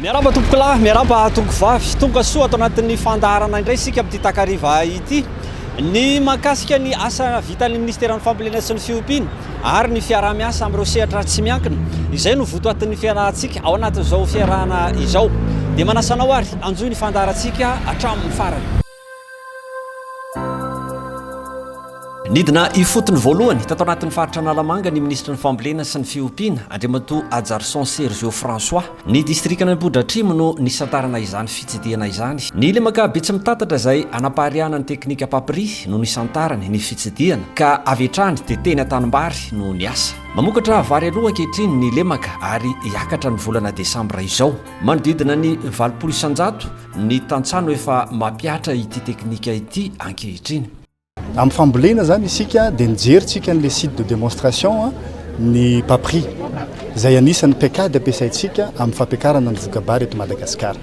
Miarahaba tompokolahy, miarahaba tonkovavy. Tonga soa ato anatin'ny fandaharana indray isika amin'ity takariva ity. Ny mahakasika ny asa vitan'ny Ministeran'ny Fambolena sy ny Fiompiana ary ny fiaraha-miasa amin'ireo sehatra tsy miankina, izay no votoatin'ny fiarahantsika ao anatin'izao fiarahana izao. Dia manasa anao ary hanjohy ny fandaharantsika hatramin'ny farany. Nidina ifotony voalohany tato anatin'ny faritra Analamanga ny minisitry ny Fambolena sy ny Fiompiana, Andriamatoa Hajarison Sergio François. Ny distrikan' Ambohidratrimo no nisantarana izany fitsidihana izany. Ny lemaka Betsimitatatra izay hanapariahana ny teknika Papri no nisantarany ny fitsidihana ka avy hatrany dia teny an-tanimbary no niasa. Mamokatra vary aloha ankehitriny ny lemaka ary hiakatra ny volana desambra izao. Manodidina ny valopolo isan-jato Ny tantsaha no efa mampihatra ity teknika ity ankehitriny. Amin'ny fambolena izany isika dia nijerintsika an'ilay site de démonstration ny Papri, izay anisan'ny paikady ampiasaintsika amin'ny fampiakarana ny voka-bary eto Madagasikara.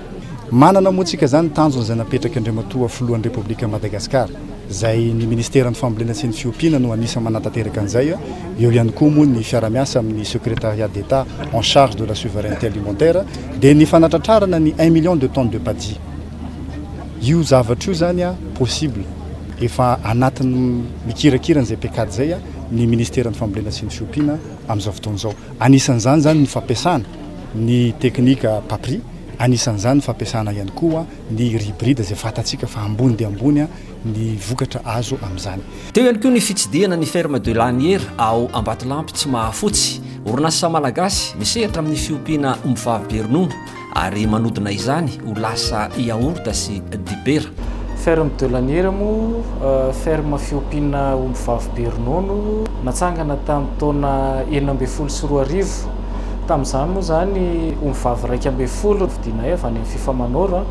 Manana moa isika izany tanjona izay napetraky Andriamatoa Filohan'ny Repoblikan'i Madagasikara. izay ny Ministeran'ny Fambolena sy ny Fiompiana no anisan'ny manatanteraka an'izay, eo ihany koa moa ny fiara-miasa amin'ny Secrétariat d'Etat en charge de la souveraineté alimentaire, dia ny fanatratrarana ny un million de tonnes de paddy. Io zavatra io izany possible, efa anatin'ny mikirakira an'izay pecad izay ny Ministeran'ny Fambolena sy ny Fiompiana amin'izao fotoana izao. Anisan'izany izany ny fampiasana ny teknika PAPRI, anisan'izany ny fampiasana ihany koa. ny ribrida izay fantatsika fa ambony dia ambony ny vokatra azo amin'izany. Teo ihany koa ny fitsidihana ny Ferme de Laniera ao Ambatolampy Tsimahafotsy, orinasa malagasy misehatra amin'ny fiompiana ombivavy be ronono ary manodina izany ho lasa yaourt sy dibera. Ferme de Laniera moa ferme fiompiana ombivavy be ronono natsangana tamin'ny taona enina ambin'ny folo sy roa arivo. Tamin'izany moa izany, ombivavy iraika ambin'ny folo no novidianay avy any amin'ny Fifa Manoro.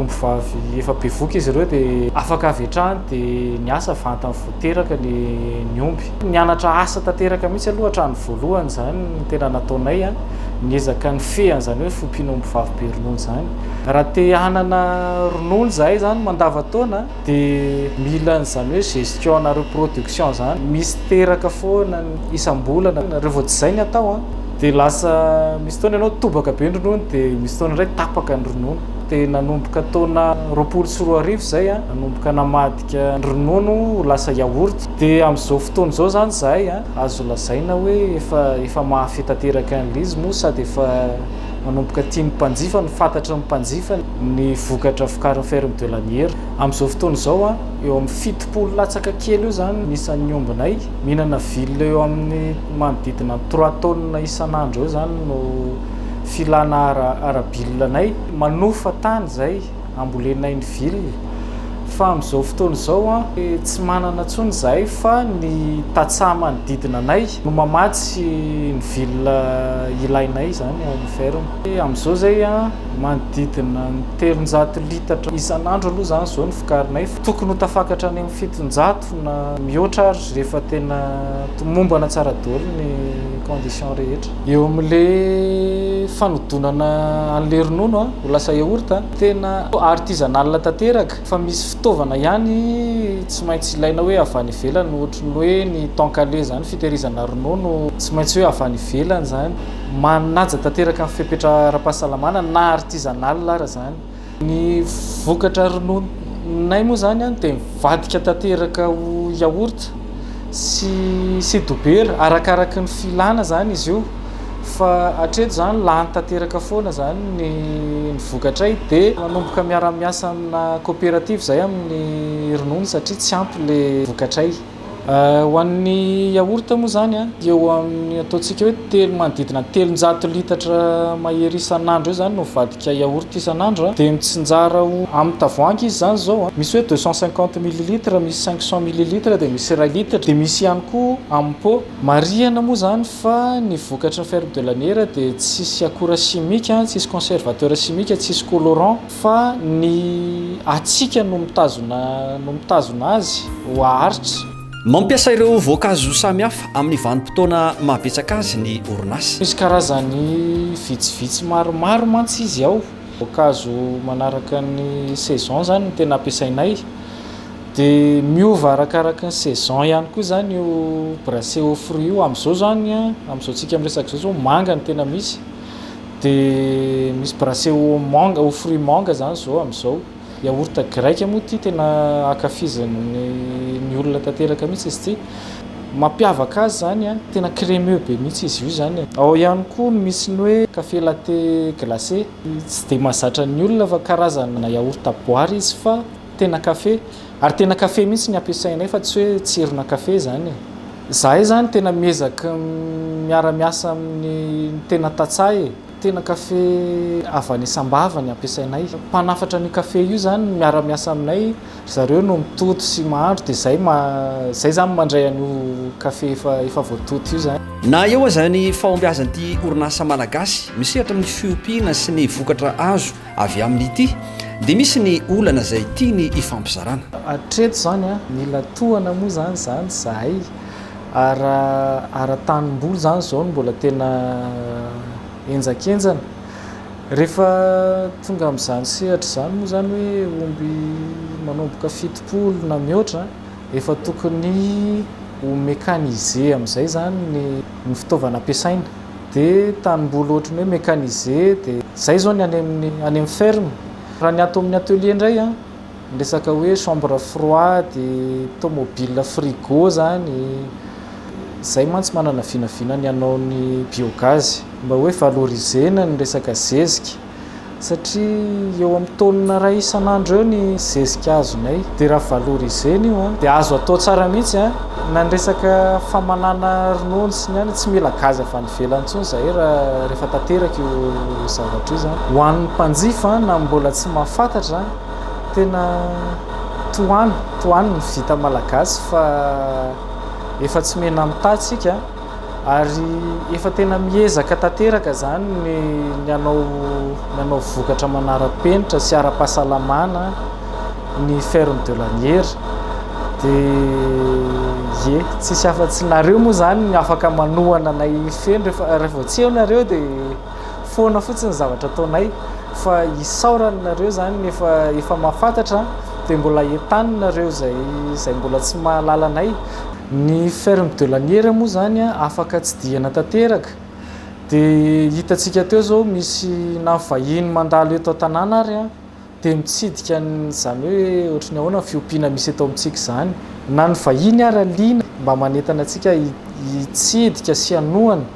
Ombivavy efa bevoka izy ireo dia afaka avy hatrany dia niasa vantany vao teraka ny ny omby. Nianatra asa tanteraka mihitsy aloha hatrany voalohany izany no tena nataonay. Niezaka nifehy an'izany hoe fiompiana ombivavy be ronono izany. Raha te hanana ronono izahay izany mandava-taona Dia mila an'izany hoe gestion nareo production zany misy teraka foana isambolana nareo vao tsy zay ny atao an! Dia lasa misy fotoana ianao tobaka be ny ronono dia misy fotoana indray tapaka ny ronono dia nanomboka taona roapolo sy roa arivo izay an! Nanomboka namadika ny ronono ho lasa yaourt dia amin'izao fotoana izao zany izahay an! Azo lazaina hoe efa efa mahafehy tanteraka an'ilay izy moa sady efa Manomboka tian'ny mpanjifa no fantatry ny mpanjifa ny vokatra vokarin'ny ferme de l'Aniera. Amin'izao fotoana izao, eo amin'ny fitopolo latsaka kely eo izany ny isan'ny ombinay. Mihinana ville eo amin'ny manodidina ny trois tonnes isan'andro eo izany no filana ara-bille-nay. Manofa tany izay. ambolenay ny ville fa amin'izao fotoana izao an tsy manana intsony izahay fa ny tantsaha manodidina anay no mamatsy ny ville ilainay izany ao amin'ny ferme. Amin'izao izay an manodidina ny telonjato litatra isan'andro aloha izany izao no vokarinay fa tokony ho tafakatra any amin'ny fitonjato na mihoatra ary rehefa tena tomombana tsara daholo ny conditions rehetra. Eo amin'le fanodonana an'le ronono ho lasa yaourt, tena artisanal tanteraka fa misy fitaovana ihany tsy maintsy ilaina hoe avy any ivelany ohatry ny hoe ny tankale zany fitehirizana ronono tsy maintsy hoe avy any ivelany zany, manaja tanteraka ny fepetra ara-pahasalamana na artisanal ara zany. Ny vokatra rononinay moa izany dia mivadika tanteraka ho yaourt sy sy dobera, arakaraky ny filana izany izy io fa hatreto izany lany tanteraka foana izany ny ny vokatray dia manomboka miara-miasa amina coopérative izay amin'ny ronono satria tsy ampy ilay vokatray. Ho an'ny yaourt moa izany a, dia eo amin'ny ataontsika hoe telo, manodidina ny telonjato litatra mahery isan'andro eo izany no mivadika yaourt isan'andro a, dia mitsinjara ho, amin'ny tavoahangy izy izany izao a, misy hoe deux cent cinquante millilitres, misy cinq cent millilitres, dia misy iray litatra, dia misy ihany koa amin'ny pot. Marihana moa izany fa ny vokatry ny ferme de la Niera dia tsisy akora simika, tsisy conservateur simika, tsisy colorant, Fa ny hatsiaka no mitazona no mitazona azy ho haharitra. Mampiasa ireo voankazo samihafa amin'ny vanim-potoana mahabetsaka azy ny orinasa. Misy karazany vitsivitsy maromaro mantsy izy ao. Voankazo manaraka ny saison izany no tena ampiasainay. Dia miova arakaraky ny saison ihany koa izany io brassé aux fruits io. Amin'izao izany, amin'izao antsika miresaka izao izao, manga no tena misy. De misy brassé au manga, au fruit manga zany zao amizao. Yaourt grec moa ity tena ankafizan'ny ny olona tanteraka mihitsy izy ity. Mampiavaka azy zany a, tena crémeux be mihitsy izy io zany e. Ao ihany koa ny misy ny hoe café latte glacé. Tsy de mahazatra ny olona fa karazana yaourt boary izy fa. Tena kafe, ary tena kafe mihitsy ny ampiasainay fa tsy hoe tsirona kafe izany e. Izahay izany tena miezaky ny miara-miasa amin'ny tena tantsaha e. Tena kafe avy any Sambava ny ampiasainay. Mpanafatra an'io kafe io izany no miara-miasa aminay, ry zareo no mitoto sy mahandro dia izay izay izany mandray an'io kafe efa efa voatoto io izany. Na eo aza ny fahombiazan'ity orinasa malagasy misehatra amin'ny fiompiana sy ny vokatra azo Avy aminy ity dia misy ny olana izay tiany hifampizarana. Hatreto izany an, mila tohana moa izany izany izahay ary ary tanimboly izany izao no mbola tena henjakenjana. Rehefa tonga amin'izany sehatra izany moa izany hoe omby manomboka fitopolo na mihoatra an, efa tokony ho mécanisé amin'izay izany ny ny fitaovana ampiasaina. dia tanimboly ohatran'ny hoe mécanisé dia izay izao ny any amin'ny any amin'ny ferme, raha ny ato amin'ny atelier indray an, ny resaka hoe chambre froide, tomobile frigo izany, izay mantsy manana vinavina ny hanao ny biogaz mba hoe valoriser-na ny resaka zezika. satria eo amin'ny taonina iray isan'andro eo ny zezika azonay dia raha valorisena io an dia azo atao tsara mihitsy an na ny resaka famanana ronono sy ny any tsy mila gazy avy any ivelany intsony izahay raha rehefa tanteraka io zavatra io zany ho an'ny mpanjifa na mbola tsy mahafantatra tena tohano tohano ny vita malagasy fa efa tsy mena mitahy tsika Ary efa tena miezaka tanteraka izany ny ny hanao ny hanao vokatra manara-penitra sy ara-pahasalamana ny ferme de laniera dia ie tsisy afa-tsy nareo moa izany no afaka manohana anay feno rehefa raha vao tsy eo nareo dia foana fotsiny ny zavatra ataonay fa isaorana anareo izany efa efa mahafantatra dia mbola entanina ireo izay izay mbola tsy mahalala anay. Ny ferme de laniera moa izany afaka tsidihana tanteraka dia hitantsika teo izao misy na vahiny mandalo eto an-tanàna ary dia mitsidika an'izany hoe ohatry ny ahoana ny fiompiana misy eto amintsika izany. Na ny vahiny ary liana mba manentana antsika hitsidika sy hanohana.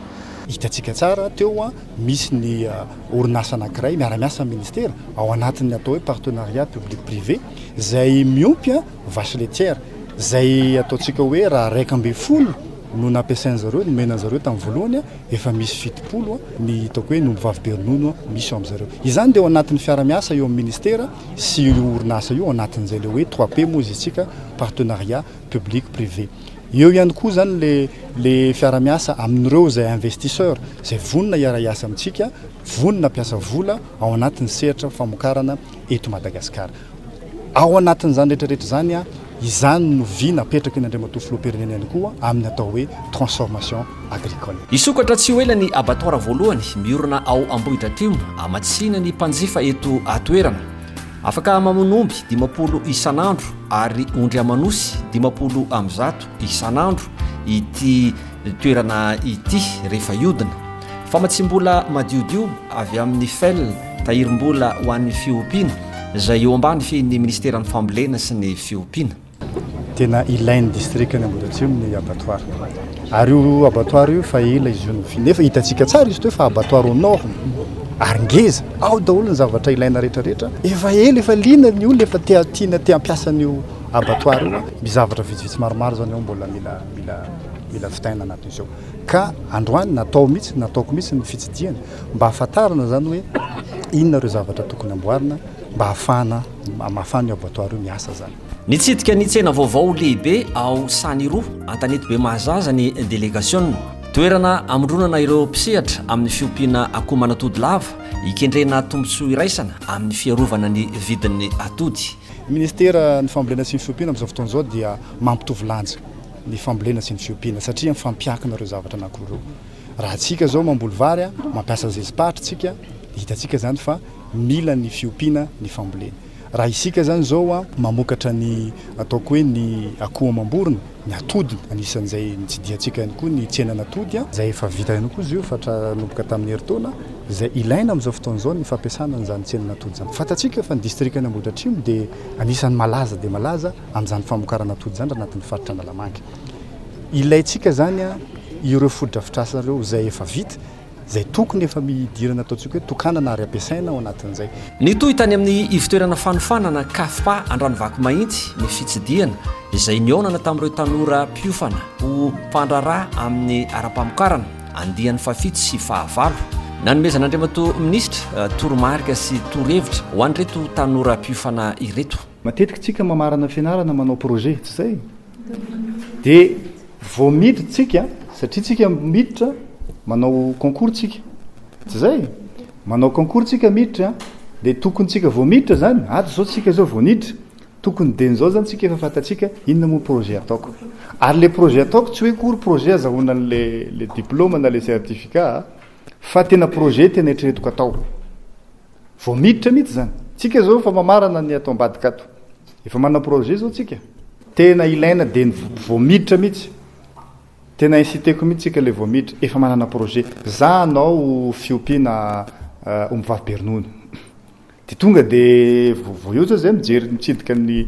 Hitantsika tsara teo misy ny orinasa anankiray miara-miasa amin'ny ministera ao anatin'ny atao hoe partenariat public privé izay miompy. vache laitière, izay ataontsika hoe raha iraika ambin'ny folo no nampiasain'ny zareo, nomena an'i zareo tamin'ny voalohany, efa misy fitopolo ny hitako hoe ny ombivavy be ronono misy ao amin'izareo. Izany dia ao anatin'ny fiara-miasa eo amin'ny ministera sy io orinasa io, ao anatin'izay ilay hoe trois P moa izy isika, partenariat public privé. Eo ihany koa izany ilay ilay fiara-miasa amin'ireo izay investisseurs izay vonona hiara-hiasa amintsika, vonona hampiasa vola ao anatin'ny sehatra famokarana. eto Madagasikara. Ao anatin'izany rehetra rehetra izany, izany no vy napetraky ny Andriamatoa Filoham-pirenena ihany koa amin'ny atao hoe transformation agricole. Hisokatra tsy ho ela ny abattoir voalohany miorina ao Ambohidratrimo hamatsiana ny mpanjifa eto an-toerana. Afaka mamono omby dimampolo isan'andro ary ondry aman'osy dimampolo amby zato isan'andro ity toerana ity rehefa hihodina. Famatsiam-bola madiodio avy amin'ny fel, tahirim-bola ho an'ny fiompiana, izay eo ambany fihin'ny minisiteran'ny Fambolena sy ny fiompiana. Tena ilain'ny distrikan'i Ambohidratrimo ny abattoir. Ary io abattoir io efa ela izy io no fi-, nefa hitantsika tsara izy ito efa abattoir aux normes, ary ngeza, ao daholo ny zavatra ilaina rehetrarehetra, efa ela, efa liana ny olona, efa te-, tiana, te-hampiasa an'io abattoir io. Misy zavatra vitsivitsy maromaro izany ao mbola mila, mila, mila vitaina anatin'izao. Ka androany natao mihitsy, nataoko mihitsy ny fitsidihana mba hahafantarana izany hoe inona ireo zavatra tokony amboarina mba hahafahana, hamafan'io abattoir io miasa izany. Nitsidika ny tsena vaovao lehibe ao Saniroa, an-tanety Bemahazaza ny delegasiona. Toerana hamondronana ireo mpisehatra amin'ny fiompiana akoho manatody lava, hikendrena tombontsoa iraisana amin'ny fiarovana ny vidin'ny atody. Ny Minisiteran'ny Fambolena sy ny Fiompiana amin'izao fotoana izao dia mampitovy lanja. ny fambolena sy ny fiompiana satria mifampiankina ireo zavatra anankiroa ireo. Raha tsika zao mamboly vary, mampiasa zezi-pahatra tsika, de hitantsika zany fa mila ny fiompiana ny fambolena. Raha isika zany zao mamokatra ny ataoko hoe ny akoho amam-borona, ny atody anisan'izay nitsidihantsika ihany koa ny tsenan'atody, zay efa vita ihany koa zio fa tra nomboka tamin'ny herintaona, zay ilaina amin'izao fotoana izao ny fampiasana an'izany tsenan'atody zany. Fantatsika fa ny distrikan'Ambohidratrimo de anisan'ny malaza dia malaza, an'izany famokarana atody izany raha anatin'ny faritra Analamanga. Ilaintsika izany ireo fotodrafitrasa ireo izay efa vita, izay tokony efa mihidirana ataontsika hoe tokanana ary ampiasaina ao anatin'izay. Nitohy tany amin'ny ivotoerana fanofanana Cafpa Andranovakomahintsy ny fitsidihana izay nihaonana tamin'ireo tanora mpiofana ho mpandraharaha amin'ny ara-pamokarana, andiany fahafito sy fahavalo. Nanomezan'Andriamatoa Minisitra toromarika sy torohevitra ho an'ireto tanora mpiofana ireto. Matetika tsika mamarana fianarana manao projet, tsy zay? De vao miditra tsika, satria tsika miditra manao concours tsika, tsy zay? Manao concours tsika miditra, de tokony tsika vao miditra zany, ato zao tsika zao vao niditra, tokony den'zao zany tsika efa fantatsika inona moa projet ataoko. Ary le projet ataoko tsy hoe kory projet azahoana le le diploma na le certificat a, fa tena projet tena eritreretiko atao. Vao miditra mihitsy izany. Tsika izao efa mamarana ny ato ambadika ato. Efa manana projet izao tsika. Tena ilaina dia ny vao miditra mihitsy. Tena inciter-ko mihitsy tsika ilay vao miditra, efa manana projet. Za hanao fiompiana ombivavy be ronono. Dia tonga dia vao eo izay mijery mitsidika ny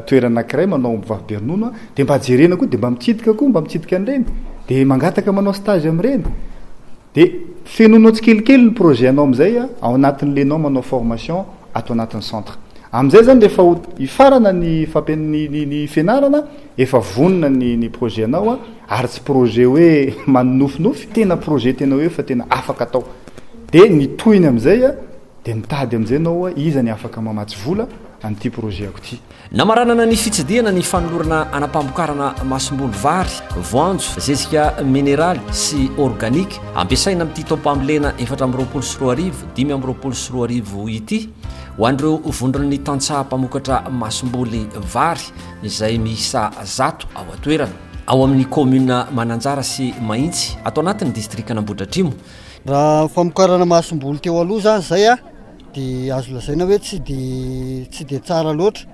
toerana anankiray manao ombivavy be ronono aho, dia mba jerena koa, dia mba mitsidika koa, mba mitsidika an'ireny. Dia mangataka manao stage amin'ireny. Dia fenoinao tsikelikely ny projet anao amin'izay ao anatin'ilay ianao manao formation ato anatin'ny centre. Amin'izay izany rehefa ho hifarana ny fampian ny ny ny fianarana efa vonona ny ny projet anao ary tsy projet hoe manonofinofy, tena projet tena hoe efa tena afaka atao. Dia ny tohiny amin'izay dia mitady amin'izay ianao hoe iza ny afaka mamatsy vola an'ity projet-ko ity. Namaranana ny fitsidihana ny fanolorana anam-pamokarana masomboly vary, voanjo, zezika mineraly sy organique ampiasaina amin'ity taom-pambolena efatra amby roapolo sy roa arivo, dimy amby roapolo sy roa arivo ity ho an'ireo vondron'ny tantsaha mpamokatra masomboly vary izay miisa zato ao an-toerana, ao amin'ny kaominina Mananjara sy Mahintsy, ato anatin'ny distrikan'Ambohidratrimo. Raha ny famokarana masomboly teo aloha izany izay. dia azo lazaina hoe tsy dia tsy dia tsara loatra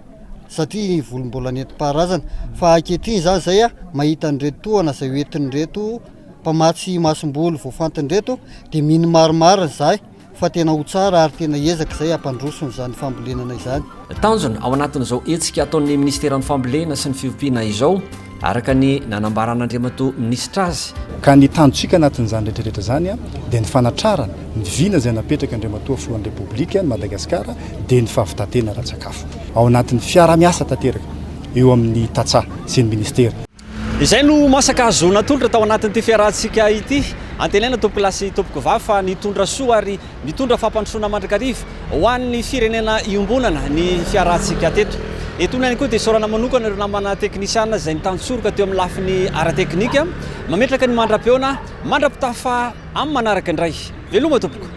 satria ny volo mbola nentim-paharazana fa ankehitriny izany izay a mahita an'ireto tohana izay hoentin'ireto mpamatsy masomboly voafantin'ireto dia mino marimarina izahay fa tena ho tsara ary tena ezaka izay hampandroso an'izany fambolenana izany Tanjona ao anatin'izao hetsika ataon'ny Ministeran'ny Fambolena sy ny Fiompiana izao, araka ny nanambaran'Andriamatoa Minisitra azy, Ka ny tanjontsika anatin'izany rehetra rehetra izany dia ny fanatrarana ny vina izay napetraka Andriamatoa Filohan'ny Repoblikan'i Madagasikara dia ny fahavitan-tena ara-tsakafo. Ao anatin'ny fiarahamiasa tanteraka eo amin'ny tantsaha sy ny Ministera. Izay no masaka hahazoana tolotra tao anatin'ity fiarahantsika ity. Antenaina tompoko lahy sy tompoko vavy fa nitondra soa ary mitondra fampandrosoana mandrakariva ho an'ny firenena iombonana ny fiarahantsika teto. Etoana ihany koa dia isaorana manokana ireo namana teknisiana izay nitantsoroka teo amin'ny lafiny ara-teknika. Mametraka ny mandra-peona mandra-pitafa amin'ny manaraka indray. Veloma tompoko.